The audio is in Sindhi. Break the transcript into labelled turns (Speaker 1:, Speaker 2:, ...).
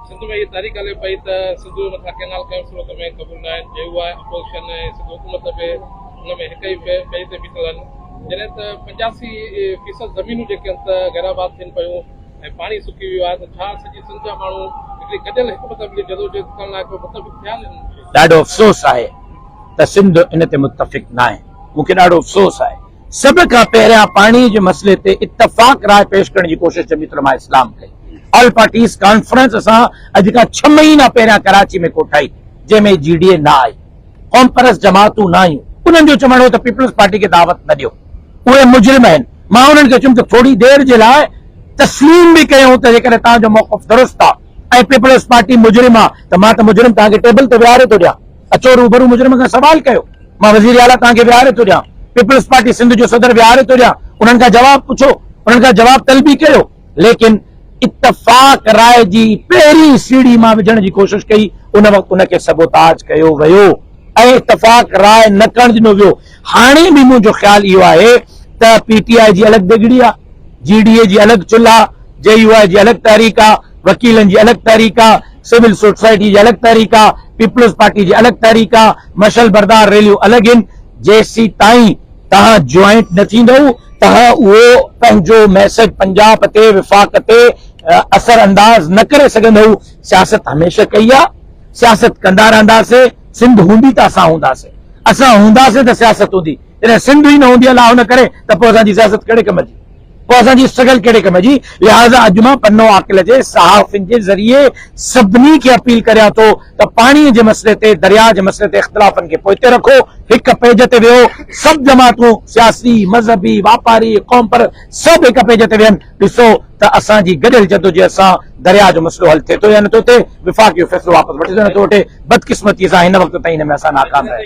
Speaker 1: سنڌ ۾ اهي تحريڪ هلي پئي ته سنڌوء مٿان ڪئنال ڪنهن صورت ۾ قبول نه آهن، جي اها اپوزيشن ۽ سنڌ حڪومت به ان ۾ هڪ ئي پيج تي بيٺل هن، جڏهن ته پنجاسي فيصد زمينون جيڪي هن ته غير آباد ٿين پيون ۽ پاڻي سڪي ويو آهي ته ڇا سڄي سنڌ جا ماڻهو هڪڙي گڏيل هڪ مذهب جي جدوجهد ڪرڻ لاء ڪو متفق ٿيا آهن. ڏاڍو افسوس
Speaker 2: آهي ته سنڌ ان تي متفق ناهي، مون کي ڏاڍو افسوس آهي. سڀ کان پهريان پاڻي جي مسئلي تي اتفاق راء پيش ڪرڻ جي ڪوشش جميعت علماء اسلام ڪئي. آل پارٽيز ڪانفرنس اسان اڄ کان ڇهه مهينا پهريان ڪراچي ۾ ڪوٺائي جنهن ۾ جي ڊي اي نه آئي، قومپرست جماعتون نه آيون، انهن جو چوڻ هو ته پيپلز پارٽي کي دعوت نه ڏيو اهي مجرم آهن، مان انهن کي چيم ته ٿوري دير جي لاء تسليم به ڪيون ته جيڪڏهن توهان جو موقف درست آهي ۽ پيپلز پارٽي مجرم آهي ته مان ته مجرم توهان کي ٽيبل تي ويهاري ٿو ڏيان. اچو روبرو مجرم کان سوال ڪيو. مان وزير اعليٰ توهان کي ويهاري ٿو ڏيان. پيپلز پارٽي سنڌ جو صدر ويهاري ٿو ڏيان. انهن کان جواب پڇو. انهن کان جواب طلبي ڪريو. ليڪن اتفاق راء جي پهرين سيڙهي مان وجهڻ جي ڪوشش ڪئي. ان وقت ان کي سبوتاج ڪيو ويو ۽ اتفاق راء نه ڪرڻ ڏنو ويو. هاڻي به منهنجو خيال اهو آهي ته پي ٽي آء جي الڳ دڳڙي آ، جي ڊي اي جي الڳ چلهه آ، جي يو آء جي الڳ تحريڪ آ، وڪيلن جي الڳ تحريڪ آ، سول سوسائٽي جي الڳ تحريڪ آ، پيپلز پارٽي جي الڳ تحريڪ آ، مشعل بردار ريليون الڳ هين، جيسيتائين توهان جوائنٽ نه ٿيندؤ، توهان اهو پنهنجو ميسج پنجاب تي وفاق تي اثر انداز نه ڪري سگهندؤ، سياست هميشه ڪئي آ. سياست ڪندا رهنداسين، سنڌ هوندي ته اسان هونداسين، اسان هونداسين ته سياست هوندي، جڏهن سنڌ ئي نه هوندي الله نه ڪري ته پوء اسان جي سياست ڪهڙي ڪم جي، پوء اسان جي اسٽرگل ڪهڙي ڪم جي، لهٰذا اڄ مان پنو عاقل جي صحافين جي ذريعي سڀني کي اپيل ڪريان ٿو ته پاڻي جي مسئلي تي، درياء جي مسئلي تي اختلافن کي پوئتي رکو، هڪ پيج تي ويهو، سڀ جماعتون، سياسي، مذهبي، واپاري، قومپرست سڀ هڪ پيج تي ويهن، ڏسو ته اسان جي گڏيل جدوجهد سان درياهه جو مسئلو حل ٿئي ٿو يا نه ٿو ٿئي، وفاق اهو فيصلو واپس وٺي ٿو يا نه ٿو وٺي، بدقسمتيء سان هن وقت تائين ان ۾ اسان ناڪام رهيا آهيون.